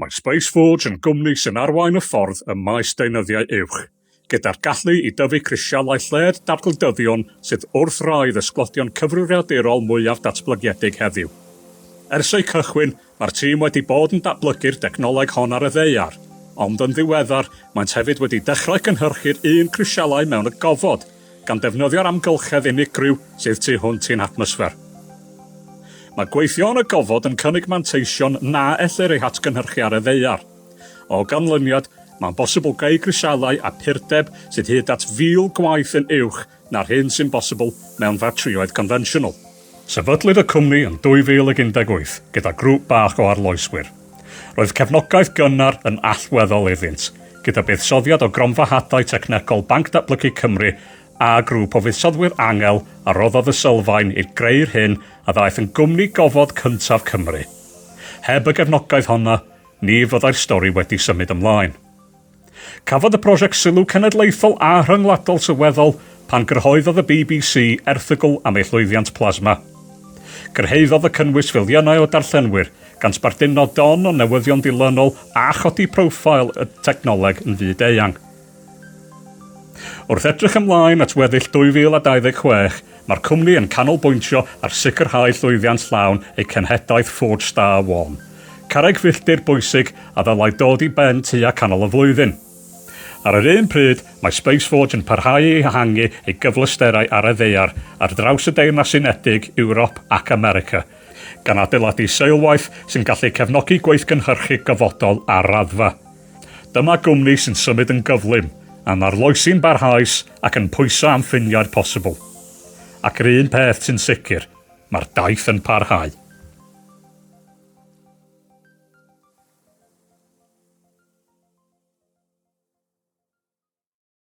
Mae Spaceforge yn gwmni sy'n arwain y ffordd ym maes deunyddiau uwch, gyda'r gallu i dyfu crisialau lled dadgldyddion sydd wrth rai ddysglodion cyfrifiadurol mwyaf datblygiedig heddiw. Ers eu cychwyn, mae'r tîm wedi bod yn datblygu'r dechnoleg hon ar y ddaear, ond yn ddiweddar, maent hefyd wedi dechrau cynhyrchu'r un crisialau mewn y gofod, gan ddefnyddio'r amgylchedd unigryw sydd tu hwnt i'n hatmosffer. Mae gweithio yn y gofod yn cynnig manteision na ellir eu hatgynhyrchu ar y ddaear. O ganlyniad, mae'n bosibl creu grisialau a phurdeb sydd hyd at 1,000 gwaith yn uwch na'r hyn sy'n bosibl mewn ffatrïoedd confensiynol. Sefydlwyd y cwmni yn 2018 gyda grŵp bach o arloeswyr. Roedd cefnogaeth gynnar yn allweddol iddynt, gyda buddsoddiad o Gronfa Hadau Technegol Banc Datblygu Cymru a grŵp o fuddsoddwyr angel a roddodd y sylfaen i greu'r hyn a ddaeth yn gwmni gofod cyntaf Cymru. Heb y gefnogaeth honno, ni fyddai'r stori wedi symud ymlaen. Cafodd y prosiect sylw cenedlaethol a rhyngwladol sylweddol pan gyrhaeddodd y bbc erthygl am ei llwyddiant plasma. Cyrhaeddodd y cynnwys filiynau o darllenwyr, gan sbarduno don o newyddion dilynol a chodi profile y technoleg yn fyd-eang. Wrth edrych ymlaen at weddill 2026, Mae'r cwmni yn canolbwyntio ar sicrhau llwyddiant llawn eu cenhedlaeth Ford Star One, carreg filltir bwysig a ddylai dod i ben tua canol y flwyddyn. Ar yr un pryd, mae Spaceforge yn parhau i ehangu ei gyfleusterau ar y ddaear ar draws y Deyrnas Unedig, Ewrop ac America, gan adeiladu seilwaith sy'n gallu cefnogi gweithgynhyrchu gofodol ar raddfa. Dyma gwmni sy'n symud yn gyflym, yn arloesi'n barhaus ac yn pwyso am ffiniau'r posibl. Ac yr un peth sy'n sicr, mae'r daith yn parhau.